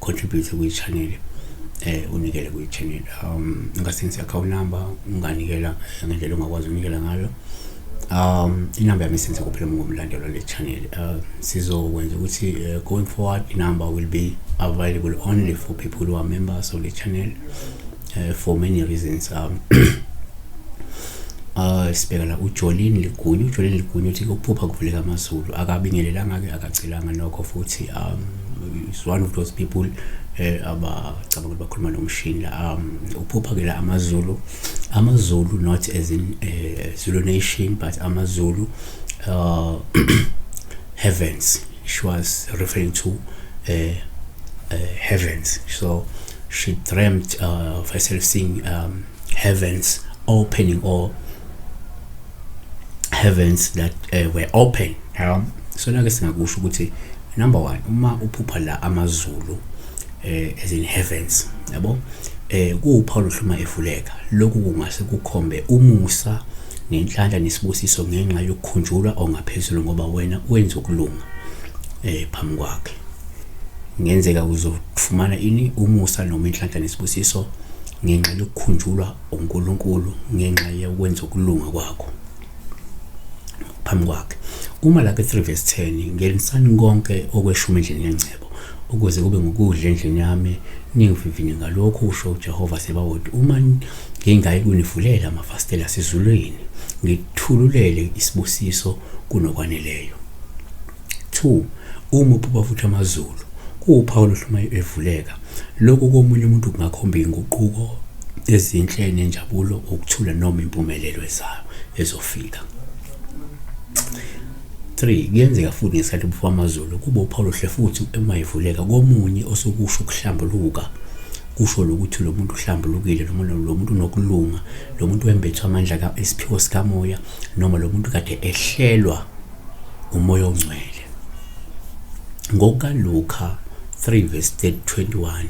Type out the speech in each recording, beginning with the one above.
contribute kwi channel eh unikele kwi channel um ungasenzi account number unganikela eh, ngendlela ongakwazi unikela ngayo um inamba yami senze kuphela ngomlandelo le channel uh, sizokwenza ukuthi uh, going forward inamba will be available only for people who are members of the channel uh, for many reasons um uh sibheka la uJolini Ligunya uJolini Ligunya uthi ukuphupha kuvuleka amazulu akabingelelanga ke akacelanga nokho futhi um is one of those people eh abacabanga ukuthi bakhuluma nomshini la um uphupha ke la amazulu amazulu not as in eh, Zulu nation but amazulu uh heavens she was referring to uh, uh, heavens so she dreamt uh, of herself seeing um, heavens opening or heavens that uh, were open yeah. so nake singakusho ukuthi number 1 uma uphupha la amazulu eh as in heavens yabo eh kuwuphawula uhluma efuleka lokhu kungase kukhombe umusa ngenhlanhla nesibusiso ngenxa yokukhunjulwa ongaphezulu ngoba wena wenza ukulunga eh phambi kwakhe ngenzeka uzofumana ini umusa noma inhlanhla nesibusiso ngenxa yokukhunjulwa uNkulunkulu ngenxa yokwenza ukulunga kwakho phambi kwakhe uma lake 3 verse 10 ngelisani konke okweshumi endlini yengcebo ukuze kube ngukudla endlini yami ningivivinye ngalokho usho uJehova sebawoti uma Ngingayi kunivulela amafasitela asezulwini, ngithululele isibusiso kunokwaneleyo. 2 uma uphupha futhi amazulu kuwuphawu oluhluma evuleka lokhu komunye umuntu kungakhomba inguquko ezinhle nenjabulo ukuthula noma impumelelo ezayo ezofika 3 kuyenzeka futhi ngesikhathi ubufo amazulu kube uphawuluhle futhi uma ivuleka komunye osukusho ukuhlambuluka kusho lokuthi lo muntu uhlambulukile noma lo muntu unokulunga lo muntu wembethwa amandla ka isiphiwo sikamoya noma lo muntu kade ehlelwa umoya ongcwele ngokaluka 3 verse 21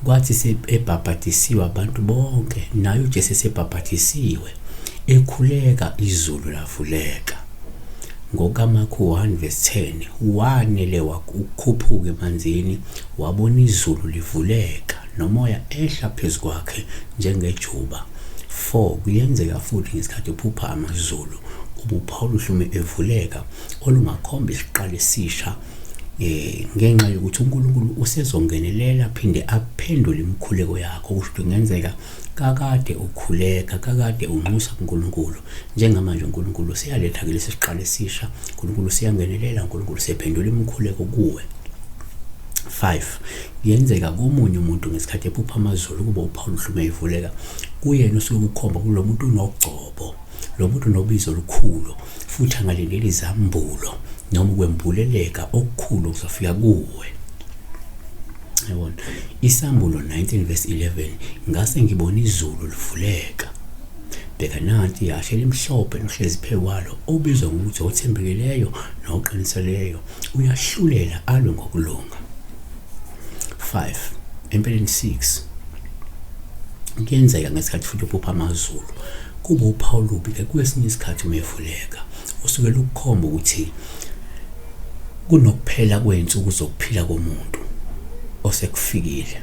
Kwathi sebhabhadisiwe abantu bonke, naye uJesu esebhabhadisiwe, ekhuleka izulu lavuleka. NgokaMakhu 1 verse 10, wanele wakhuphuka emanzini, wabona izulu livuleka, nomoya ehla phezu kwakhe njengejuba. 4 kuyenzeka futhi ngesikhathi uphupha amazulu ubupha oluhlume evuleka olungakhomba isiqalo esisha eh ngenxa yokuthi uNkulunkulu usezongenelela phinde aphendule imikhuleko yakho kusho ukuthi kungenzeka kakade ukhuleka kakade unxusa kuNkulunkulu njengamanje uNkulunkulu useyaletha ke lesi siqalo esisha uNkulunkulu useyangenelela uNkulunkulu usephendula imikhuleko kuwe 5 yenzeka komunye umuntu ngesikhathi ephupha amazulu kuba uPaul uhlume ivuleka kuyena usuke kukhomba kulomuntu unogcobo lo muntu nobizo olukhulu futhi angalindeli izambulo noma ukwembuleleka okukhulu okuzofika kuwe yabona isambulo 19 verse 11 ngase ngibona izulu livuleka bheka nanti yashe limhlophe nohlezi phezu kwalo obizwa ngokuthi othembekileyo noqiniseleyo uyahlulela alwe ngokulunga 5 empeleni 6 kuyenzeka ngesikhathi futhi uphupha amazulu kuba uphawu lubi ke kwesinye isikhathi umevuleka usuke lukukhomba ukuthi kunokuphela kwensuku zokuphila komuntu osekufikile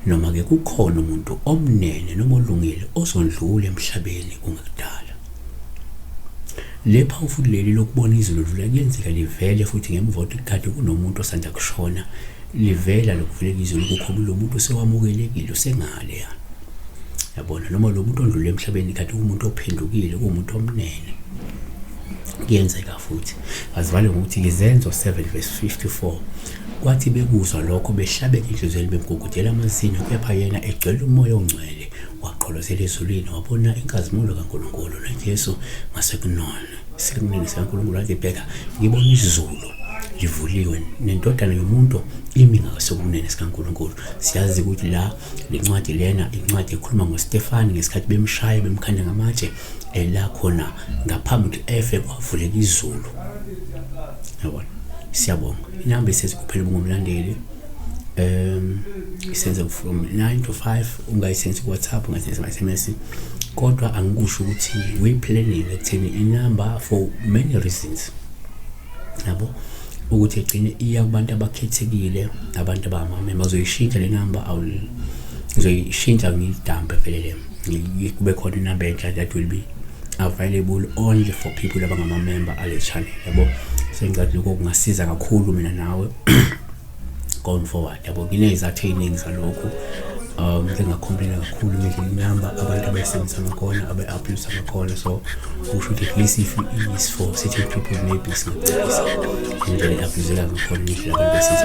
noma ke kukhona umuntu omnene noma olungile osondlula emhlabeni kungekudala Le phawu futhi leli lokubona izwi lodlula kuyenzeka livele futhi ngemva kokuthi kade kunomuntu osanda kushona livela lokuvuleka izwi lokukho lo muntu sewamukelekile usengale ya yabona noma lo muntu ondlule emhlabeni kade kumuntu ophendukile kuwumuntu omnene kuyenzeka futhi azivale ngokuthi izenzo 7 verse 54 kwathi bekuzwa lokho behlabeke inhliziyo bemgugudela amazinyo kepha yena egcwele umoya ongcwele wagqolozela ezulwini wabona inkazimulo kaNkulunkulu noJesu ngasekunona sikunini sikaNkulunkulu wathi bheka ngibona izulu livuliwe nendodana yomuntu imi ngasokunene sikaNkulunkulu siyazi ukuthi la lencwadi lena incwadi ekhuluma ngoStefani ngesikhathi bemshaya bemkhanda ngamatshe ela khona ngaphambi ukuthi efe kwavuleka izulu yabona siyabonga inamba isezi kuphela ubungomlandeli um isenze from 9 to 5 ungayisendisi kuwhatsapp ungayisendisi ma-sms kodwa angikusho ukuthi we-planning ekutheni inumber for many reasons yabo ukuthi egcine iya kubantu abakhethekile abantu abamame bazoyishintsha le number ngizoyishintsha ngiyidambe vele le kube khona inumber entsha that will be available only for people abangamamember ale channel yabo sengicabanga lokho kungasiza kakhulu mina nawe going forward yabo nginezathu ey'ningi zalokhu um ngingakhomplela kakhulu ngisho inamba abantu abayisebenzisa ngakhona abe-abuse ngakhona so usho ukuthi at least if is for certain people maybe singacebisa indlela e-abuseka ngakhona ngisho abantu besiza